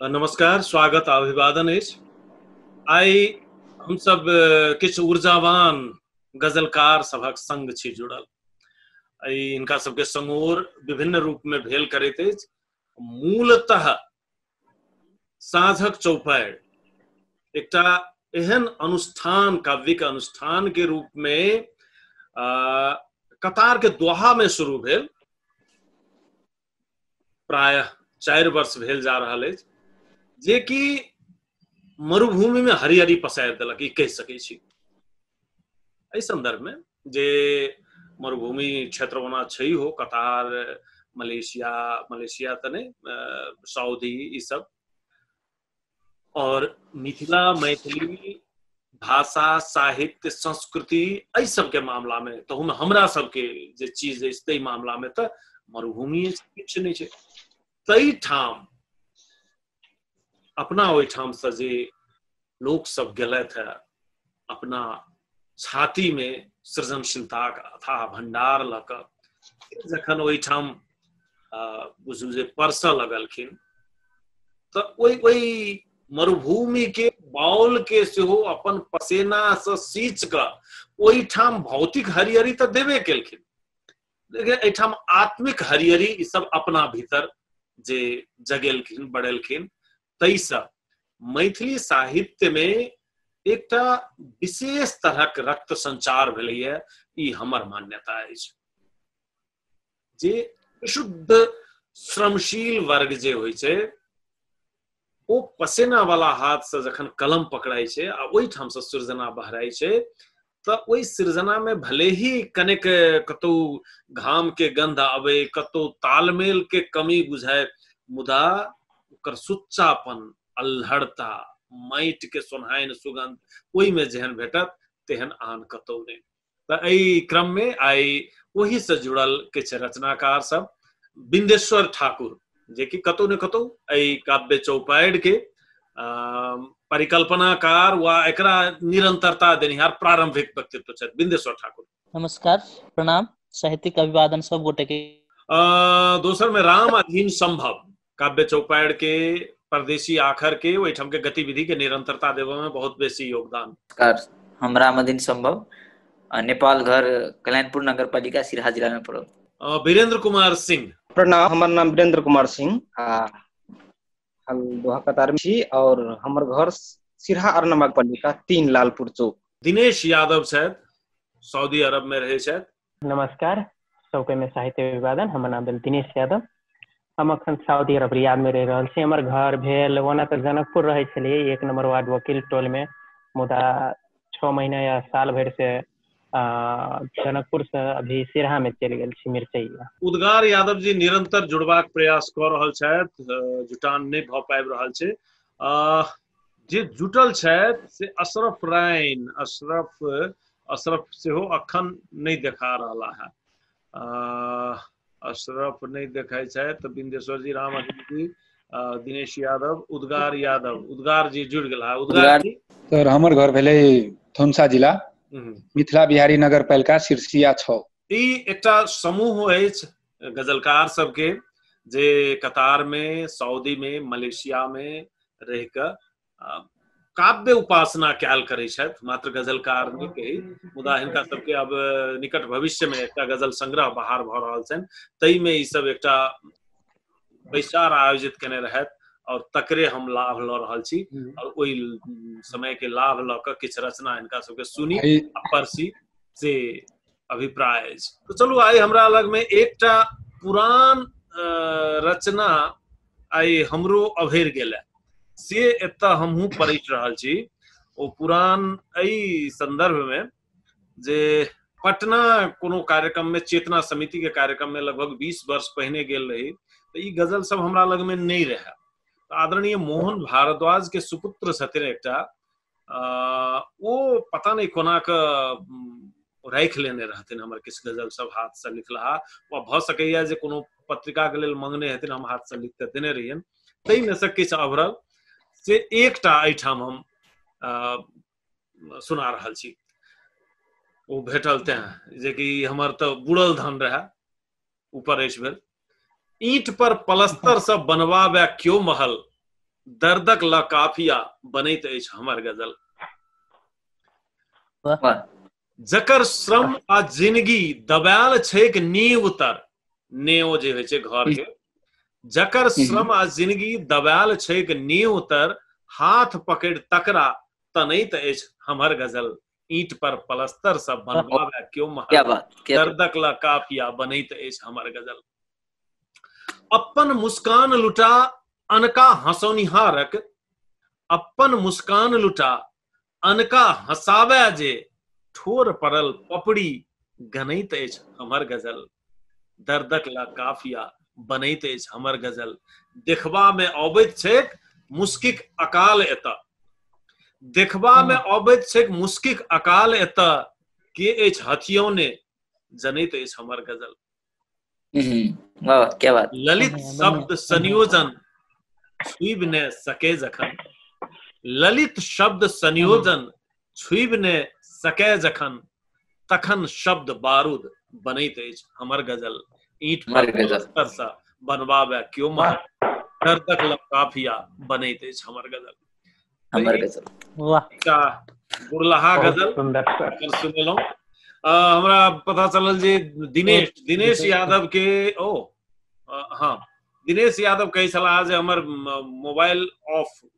नमस्कार स्वागत आ अभिवादन अछि आइ हमसभ अ, किछु ऊर्जावान गजलकार सभक संग छी जुड़ल आइ हिनका सबके समोर विभिन्न रूप में भेल करैत अछि मूलतः साँझक चौपाइ एकटा एहन अनुष्ठान काव्यिक अनुष्ठान के रूप में अ, कतार के दोहा में शुरू भेल प्रायः चारि वर्ष भेल जा रहल अछि जेकि मरुभूमिमे हरियरी पसारि देलक ई कहि सकै छी एहि सन्दर्भमे जे मरुभूमि क्षेत्र ओना छै हो कतार मलेशिया मलेशिया तऽ नहि सऊदी ई सब और मिथिला मैथिली भाषा साहित्य संस्कृति एहि सबके मामलामे तहूमे हमरा सबके जे चीज अछि ताहि मामलामे तऽ मरुभूमि किछु नहि छै ताहि ठाम अपना ओहिठामसँ जे लोकसभ गेलथि हे अपना छाती में सृजनशीलता अथा भंडार ल क जखन ओहिठाम बुझू जे परस लगलखिन तो ओहि ओहि मरुभूमि के बाउल के सेहो अपन पसेना से सींच क ओहिठाम भौतिक हरियरी तो देवे केलखिन लेकिन एहिठाम आत्मिक हरियरी ई सब अपना भीतर जे जगेलखिन बढ़ेलखिन ताहिसँ मैथिली साहित्यमे एकटा विशेष तरहक रक्त संचार भेलैए ई हमर मान्यता अछि जे शुद्ध श्रमशील वर्ग जे होइ छै ओ पसेना वाला हाथ से जखन कलम पकड़ाइ छै आ ओहिठाम से सृजना बहराइ छै तऽ ओहि सृजनामे भले ही कनेक कतौ घामके गन्ध आबै कतौ तालमेलके कमी बुझाय मुदा ओकर सुच्चापन अल्हड़ता माटिके सोन्हाइन सुगन्ध ओहिमे जेहन भेटत तेहन आन कतौ नहि तऽ एहि क्रममे आइ ओहिसँ जुड़ल किछु रचनाकार सब बिन्देश्वर ठाकुर जेकि कतौ ने कतौ एहि काव्य चौपाइड के परिकल्पनाकार वा एकरा निरंतरता देनिहार प्रारंभिक व्यक्तित्व छथि बिंदेश्वर ठाकुर नमस्कार प्रणाम साहित्यिक अभिवादन सब गोटे के दोसर में राम अधीन संभव काव्य चौपाइड के परदेशी आखर के ओहिठाम के गतिविधि के निरंतरता देवे में बहुत बेसी योगदान नमस्कार हम राम अधीन संभव आ नेपाल घर कलयनपुर नगरपालिका सिराहा जिला मे पड़ल अ, वीरेंद्र कुमार सिंह प्रणाम हमर नाम वीरेंद्र कुमार सिंह आ हम दोहा कतार में छी और हमर घर सिरहा अरनवा पालिका तीन लालपुर चौक दिनेश यादव छथि सऊदी अरब में रहै छथि नमस्कार सबके में साहित्य विवादन हमर नाम भेल दिनेश यादव हम अखन साउदी अरब रियाद मे रहि रहल छी हमर घर भेल ओना तऽ जनकपुर रहै छलियै एक नम्बर वार्ड वकील टोल मे मुदा छओ महीना या साल भरि से आ जनकपुर से अभी सिरहा मे चलि गेल छी मिर्चैया उद्गार यादव जी निरंतर जुड़बाक प्रयास कऽ रहल छथि जुटान नहि भऽ पाबि रहल छै जे जुटल छथि से अशरफ रायन अशरफ अशरफ सेहो अखन नहि देखा रहला है अशरफ नहीं देखाई छे तो बिंदेश्वर जी राम जी दिनेश यादव उद्गार यादव उद्गार जी जुड़ गला उद्गार जी सर हमर घर भेले थोनसा जिला हम्म। मिथिला बिहारी नगर पालिका सिरसिया छौ ई एकटा समूह अछि गजलकार सबके जे कतार में सऊदी में मलेशिया में रह के काव्य उपासना कयल करै छथि मात्र गजलकार नहि कही मुदा हिनका सबके अब निकट भविष्य में एकटा गजल संग्रह बाहर भऽ रहल छनि ताहिमे ई सब एकटा बैसार आयोजित केने रहथि और तकरे हम लाभ लऽ रहल छी और ओहि समय के लाभ लऽ कऽ किछु रचना हिनका सबके सुनी आ परसी से अभिप्राय अछि तो चलू आइ हमरा लग में एकटा पुरान रचना आइ हमरो अभरि गेल से एतऽ हमहूँ पढ़ि रहल छी ओ पुरान एहि संदर्भमे जे पटना कोनो कार्यक्रममे चेतना समितिके कार्यक्रममे लगभग बीस वर्ष पहिने गेल रही तऽ ई गजल सब हमरा लगमे नहि रहए आदरणीय मोहन भारद्वाज के सुपुत्र छथिन एकटा ओ पता नहि कोना कऽ राखि लेने रहथिन हमर किछु गजल सब हाथसँ लिखलाहा वा भऽ सकैए जे कोनो पत्रिकाके लेल मंगने हेथिन हम हाथसँ लिख कऽ देने रहियनि ताहिमे से किछु अभरल से एकटा एहिठाम हम सुना रहल छी ओ भेटल तें जेकि हमर तऽ बुड़ल धन रहए ऊपर अछि भेल ईंट पर पलस्तर से बनवाबे क्यो महल दर्दक ल काफिया बनैत अछि हमर गजल जकर श्रम आ जिंदगी दबायल छैक नींव तर नेओ जे होइ छै घर के जकर श्रम आ जिंदगी दबायल छैक नींव तर हाथ पकड़ तकरा तनैत अछि हमर गजल ईट पर पलस्तर सब बनवावे क्यों महाराज दर्दक ला काफिया बनैत अछि हमर गजल अपन मुस्कान लुटा अनका हंसौनिहारक अपन मुस्कान लुटा अनका हंसावे जे ठोर पड़ल पपड़ी गनैत अछि हमर गजल दर्दक ला काफिया बनैत अछि हमर गजल देखबा में अबैत छैक मुस्किक अकाल एत देखबा में अबैत छैक मुस्किक अकाल एत के अछि हथियौने जनैत अछि हमर गजल वाह क्या बात ललित शब्द संयोजन सुइब ने सके जखन ललित शब्द संयोजन छुबि ने सकै जखन तखन शब्द बारूद बनैत अछि हमर गजल ईट पर पत्थर सा बनवावे क्यों मार डर तक लकाफिया बनैत अछि हमर गजल हमर गजल वाह का बुरलहा गजल सुंदर सुनेलहुँ हमरा पता चलल जे दिनेश दिनेश यादव के ओ हाँ दिनेश यादव कहै छलाह जे हमर मोबाइल ऑफ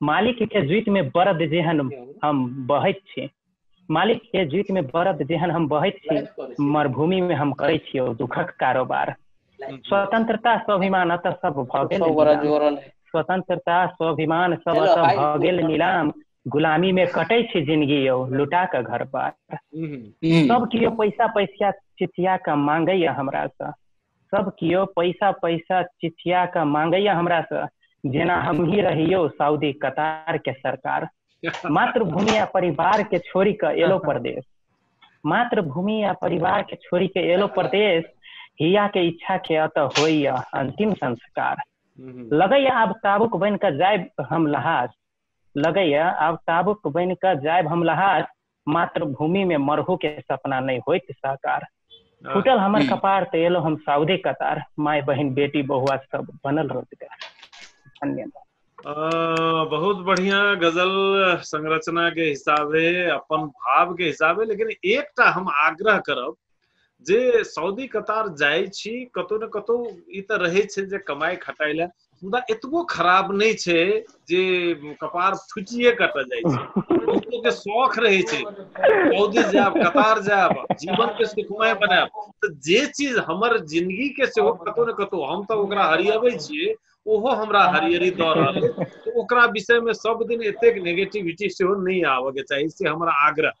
मालिक के जुइत में बरद जेहन हम बहैत छी मालिक के जुइत में बरद जेहन हम बहैत छी मरुभूमि में हम करै छी ओ दुखक कारोबार स्वतंत्रता स्वाभिमान अतः सब भऽ गेल सब बड़ा नीलाम। जोर वाला है। स्वतंत्रता स्वाभिमान सब हेलो, अतः हाय, भऽ गेल हेलो। नीलाम गुलामी में कटै छी जिंदगी यौ लुटा कऽ घर बार हम्म, सब केओ पैसा पैसा चिचिया कऽ मांगैया हमरा सँ सब कियो पैसा पैसा चिठिया के मांगैया हमरा से जेना हम ही रहियो सऊदी कतार के सरकार मातृभूमि आ परिवार के छोड़ी के एलो प्रदेश मातृभूमि आ परिवार के छोड़ी के एलो प्रदेश हिया के इच्छा के अत होइया अंतिम संस्कार हम्म। लगैया आब ताबुक बन के जायब हम लहास लगैया आब ताबुक बन के जायब हम लहास मातृभूमि में मरहू के सपना नहीं हो साकार हाँ। फूटल हमारे हम्म। कपार ते एलो हम साउदे कतार माय बहन बेटी बहुआ सब बनल रोजगार धन्यवाद बहुत बढ़िया गजल संरचना के हिसाबे अपन भाव के हिसाबे लेकिन एक हम आग्रह करब जे सऊदी कतार जाय छी कतौ ने कतौ ई त रहै छै जे कमाई खटाई ले मुदा एतबो खराब नहि छै जे कपार फुटिए कतऽ जाइ छै के शौक रहै छै सऊदी जायब कतार जायब जीवन के सुखमय बनायब तऽ जे चीज हमर जिंदगी के सेहो कतौ ने कतौ हम तऽ ओकरा हरियबै छियै ओहो हमरा हरियरी दऽ रहल अछि तऽ ओकरा विषयमे सब दिन एतेक नेगेटिविटी सेहो नहि आबऽके चाही से हमरा आग्रह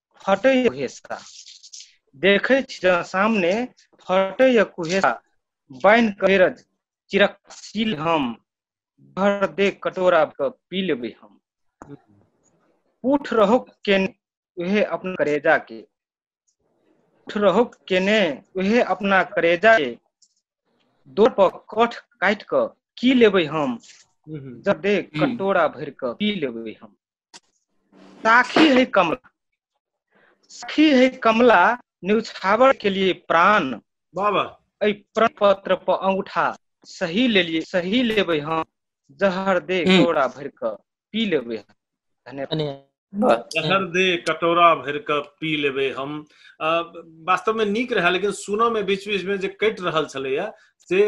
फटै हेसा देखै छी ज सामने फटै या कुहेसा बान्हि कऽ रज चिरक सील हम भर दे कटोरा के पी लेबै हम उठ रहो के उहे अपन करेजा के उठ रहो केने उहे अपना करेजा के दो पर कठ काटि कऽ की लेबै हम जब दे कटोरा भरि कऽ पी लेबै हम साखी है कमला साखी है कमला न्यूछावर के लिए प्राण बाबा एहि प्रण पत्र पर अंगूठा सही लेलिए सही लेबै हम जहर दे हम्म। कोड़ा भर के पी लेबै हम। धन्यवाद धन्यवाद जहर दे कटोरा भर के पी लेबे हम अ, वास्तव में नीक रहे लेकिन सुनऽ में बीच बीच में जे कटि रहल छलैया से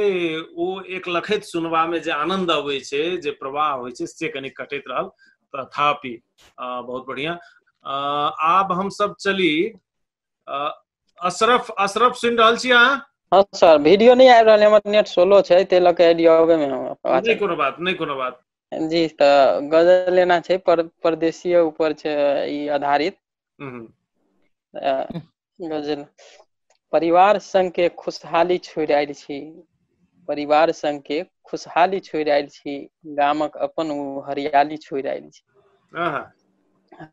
ओ एक लखैत सुनबामे जे आनन्द अबै छै जे प्रवाह होइ छै से कनि कटैत रहल तथापि बहुत बढ़िया आब हम सब चली अशरफ अशरफ सुन रहल छी अहाँ हाँ सर वीडियो नहीं आ रहा हमर नेट सोलो छै ते लके आईडी आवे में हम नहीं कोनो बात नहीं कोनो बात जी तो गजल लेना छै पर परदेशीय ऊपर छै ई आधारित गजल परिवार संग के खुशहाली छोड़ि आयल छी परिवार संग के खुशहाली छोड़ि आयल छी गामक अपन ओ हरियाली छोड़ि आयल छी आहा,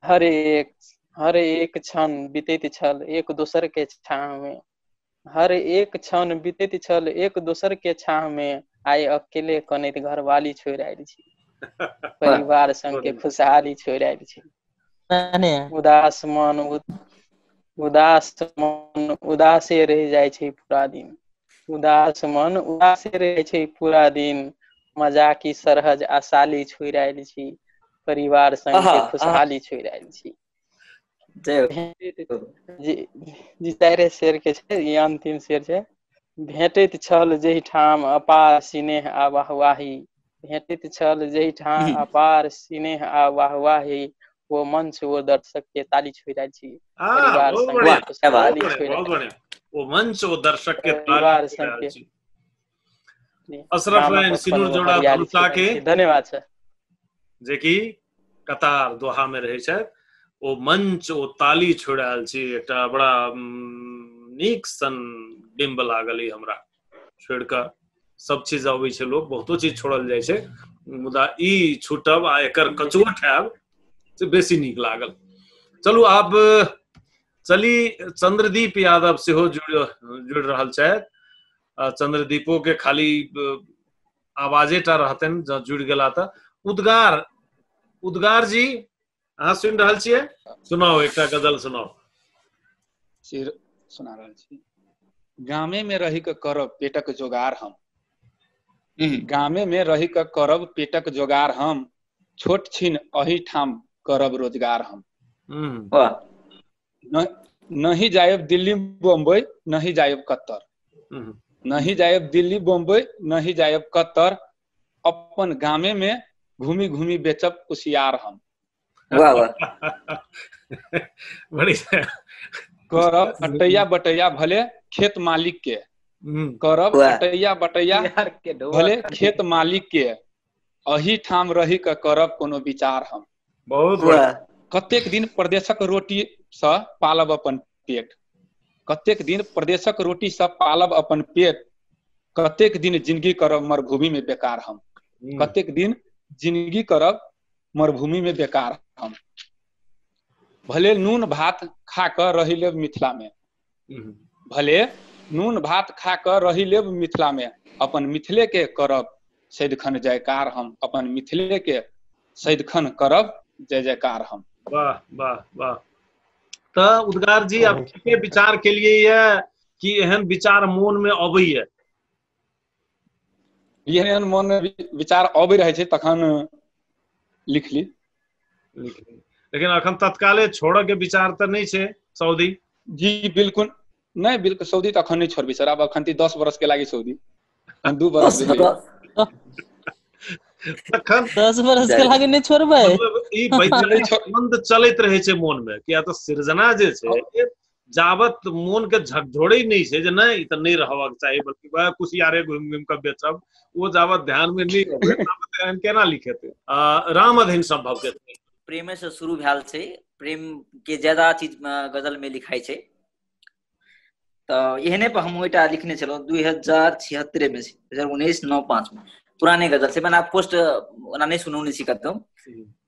हर एक हर एक क्षण बीतैत छल एक दोसर के छाँह में हर एक क्षण बीतैत छल एक दोसर के छाह मे आइ अकेले कनैत घरवाली छोड़ि आयल छी परिवार संग के खुशहाली छोड़ि आयल छी तहने उदास मन उ- उदास मन उदासे रहि जाइ छै पूरा दिन उदास मन उदासे रहै छै पूरा दिन मजाकी सरहज आ साली छोड़ि आयल छी परिवार संग आहा, के आहा। खुशहाली छोड़ि आयल छी जी जी चारे शेर के छै ई अंतिम शेर छै भेटैत छल जहिठाम अपार सिनेह आ वाहवाही भेटैत छल जहिठाम अपार सिनेह आ वाहवाही ओ मंच ओ दर्शक के ताली छोड़ रहल छी परिवार संग ताली छोड़ ओ मंच ओ दर्शक के ताली छोड़ रहल छी अशरफ रैन सिनुर जोड़ा भरुसा के धन्यवाद सर जे कि कतार दोहा में रहे छथि ओ मंच ओ ताली छोड़ आयल छी एकटा बड़ा नीक सन बिम्ब लागल ई हमरा छोड़ के सब चीज अबै छै लोक बहुतो चीज छोड़ल जाइ छै मुदा ई छूटब आ एकर कचोट हैब से बेसी नीक लागल चलू आब चली चंद्रदीप यादव सेहो जुड़ जुड़ रहल छथि अ, चंद्रदीपो के खाली अ, आवाजे टा रहतन जँ जुड़ि गेला तऽ उद्गार उद्गार जी अहाँ सुनि रहल छियै सुनाउ एकटा गजल सुनाउ से सुना रहल छी गामे में रहि कऽ करब पेटक जोगार हम हम्म, गामे में रहि कऽ करब पेटक जोगार हम छोट छिन अही ठाम करब रोजगार हम हम्म, वाह नहीं जायब दिल्ली बम्बई नहीं जायब कतर हम्म। नहीं जायब दिल्ली बम्बई नहीं जायब कतर अपन गामे में घूमी घूमी बेचब कुशियार हम वाह वाह बढ़िया करब अटैया बटैया भले खेत मालिक के हम्म। करब अटैया बटैया भले खेत मालिक के अही ठाम रहि कऽ करब कोनो विचार हम बहुत वाह बढ़िया कतेक दिन प्रदेशक रोटीसँ पालब अपन पेट कतेक दिन प्रदेशक रोटीसँ पालब अपन पेट कतेक दिन जिंदगी करब मरुभूमिमे बेकार हम हम्म, कतेक दिन जिंदगी करब मरुभूमिमे बेकार हम भले नून भात खा कऽ रहि लेब मिथिलामे भले नून भात खा कऽ रहि लेब मिथिलामे अपन मिथिलेके करब सदिखन जयकार हम अपन मिथिलेके सदिखन करब जय जयकार हम वाह वाह वाह तऽ उद्गार जी आप के विचार के लिए ये कि एहन विचार मोन में अबैया एहन एहन मन विचार अबै रहै छै तखन लिख ली लेकिन अखन तत्काले छोड़ऽ के विचार तऽ नहि छै सऊदी जी बिल्कुल नहि बिल्कुल सऊदी तऽ अखन नहि छोड़बै सर आब अखन ती दस बरस के लागि सऊदी दू बरस तखन दस बरस के लागि नहि छोड़बै मतलब ई वैचारिक संबंध चलैत रहै छै मोन मे किया तऽ सृजना जे छै जाबत मोन के झकझोड़े नहीं से जे नहीं त नहीं रहबाक चाहिए बल्कि वह कुशियारे घुम घुम के बेचब वो जाबत ध्यान में नहीं अबे ताबत एहन केना लिखेते राम अधीन संभव के प्रेम से शुरू भेल छै प्रेम के ज्यादा चीज गजल में लिखाई छै त एहने पर हम ओटा लिखने छलो 2076 में 2019 95 में पुराने गजल से मैंने पोस्ट ओना नहीं सुनौने छी कतौ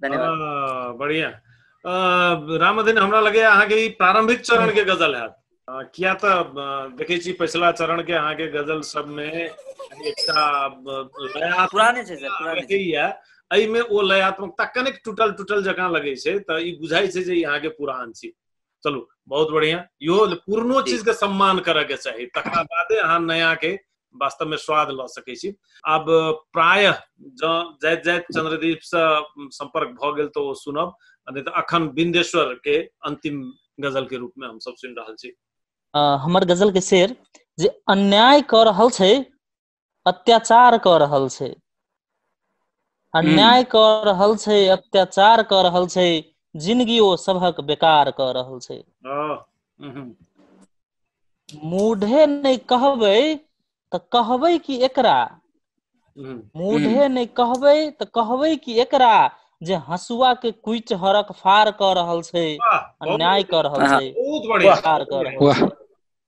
धन्यवाद आ, बढ़िया रामदिन हमरा लगे अहाँ के ई प्रारंभिक चरण के गजल है किया तो देखे छी पिछला चरण के अहाँ के गजल सब में एकटा लया पुराने छै सर पुराने छै या एहि में ओ लयात्मकता कनेक टूटल टूटल जकां लगे छै त ई बुझाई छै जे अहाँ के पुरान छी चलू बहुत बढ़िया इहो पुरनो जी। चीज के सम्मान करय के चाही तकरा बादे अहाँ नया के वास्तव में स्वाद लऽ सकै छी आब प्राय जँ जाइत जाइत चंद्रदीप से संपर्क भऽ गेल तऽ ओ सुनब आ नहि तऽ अखन बिंदेश्वर के अंतिम गजल के रूप में हम सब सुनि रहल छी अ, हमर गजल के शेर जे अन्याय कऽ रहल छै अत्याचार कऽ रहल छै हूँ अन्याय कऽ रहल छै अत्याचार कऽ रहल छै जिनगी ओ सभक बेकार कऽ रहल छै ओ हूँ हूँ मूढ़े नहि कहबै तऽ कहबै की एकरा हूँ हूँ मूढ़े नहि कहबै तऽ कहबै की एकरा जे हँसुआ के कुचि हरक फार कऽ रहल छै वाह बहुत अन्याय बढ़िया कऽ रहल आहा छै बहुत बढ़िया बेकार बहुत कऽ बढ़िया रहल वाह छै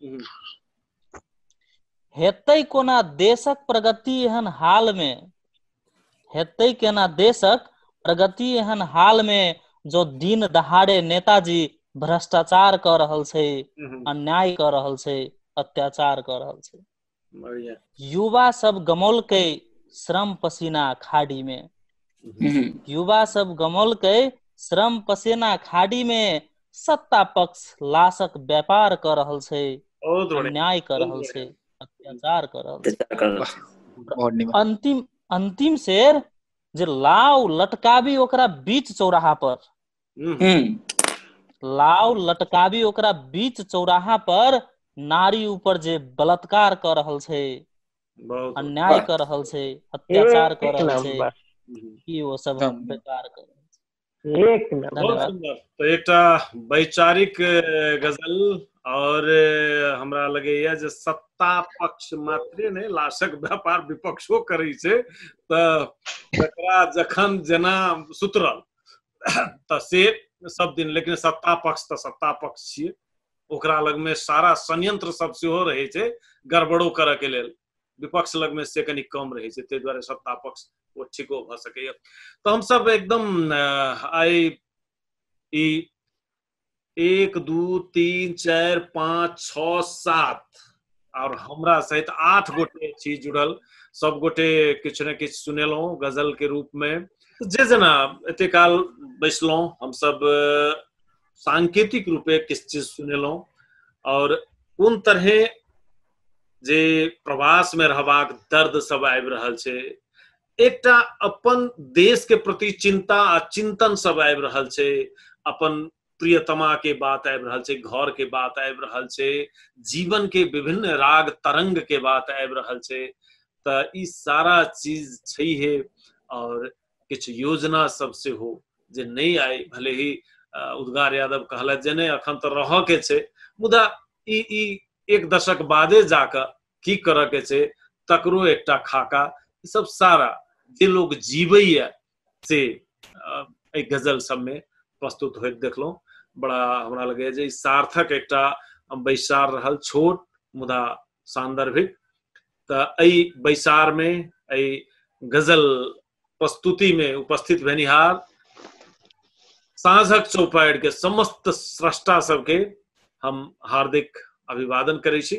हूँ हेतै कोना देशक प्रगति एहन हाल मे हेतै केना देशक प्रगति एहन हाल मे जो दिन दहाड़े नेताजी भ्रष्टाचार कऽ रहल छै हम्म, अन्याय कऽ रहल छै अत्याचार कऽ रहल छै बढ़िया युवा सब गमौलकै श्रम पसीना खाड़ी मे हूँ युवा सब गमलके श्रम पसेना खाड़ी मे सत्ता पक्ष लाशक व्यापार कऽ रहल छै बहुत बढ़िया अन्याय कऽ रहल छै अत्याचार कऽ रहल छै अत्याचार कर रहल छै। बहुत नीमन अंतिम अंतिम शेर जे लाव लटकाबी ओकरा बीच चौराहा पर हम्म, हम्म, लाव लटकाबी ओकरा बीच चौराहा पर नारी ऊपर जे बलात्कार कऽ रहल छै बहुत अन्याय वाह कऽ रहल छै अत्याचार कऽ एक रहल छै नम्बर की ओ सब हम एकदम बेकार कऽ रहल छै एक बहुत नम्बर धन्यवाद सुन्दर तऽ एकटा वैचारिक अ, गजल और अ, हमरा लगैया जे सत्ता पक्ष मात्रे नहि लाशक व्यापार विपक्षो करै छै तऽ जकरा जखन जेना सुतरल तऽ से सब दिन लेकिन सत्ता पक्ष तऽ सत्ता पक्ष छियै ओकरा लग में सारा संयंत्र सब सेहो रहे छै गड़बड़ो करऽ के लेल विपक्ष लग में से कनी कम रहे छै ताहि दुआरे सत्ता पक्ष ओ ठीको भऽ सकैए तऽ हम सब एकदम आइ ई एक दू तीन चारि पाँच छओ सात और हमरा सहित आठ गोटे छी जुड़ल सब गोटे किछु ने किछु सुनेलहुँ गजल के रूप में जे जेना एते काल बैसलहुँ हमसब सांकेतिक रूपे किस चीज सुनेलो और कोन तरहे जे प्रवास में रहबाक दर्द सब आबि रहल छै एकटा अपन देश के प्रति चिंता आ चिंतन सब आबि रहल छै अपन प्रियतमा के बात आबि रहल छै घर के बात आबि रहल छै जीवन के विभिन्न राग तरंग के बात आबि रहल छै तऽ ई सारा चीज छै हे और किछु योजना सब सेहो जे नहि आइ भले ही उद्गार यादव कहला जे नहि अखन तऽ रहऽ के छै मुदा ई ई एक दशक बादे जाकऽ की करऽ के छै तकरो एकटा खाका ई सब सारा जे लोग जीवैया से एहि गजल सबमे प्रस्तुत होइत देखलहुँ बड़ा हमरा लगैए जे सार्थक एकटा बैसार रहल छोट मुदा सान्दर्भिक तऽ एहि बैसारमे एहि गजल प्रस्तुतिमे उपस्थित भेनिहार साँझक चौपाइरके समस्त स्रष्टा सबके हम हार्दिक अभिवादन करै छी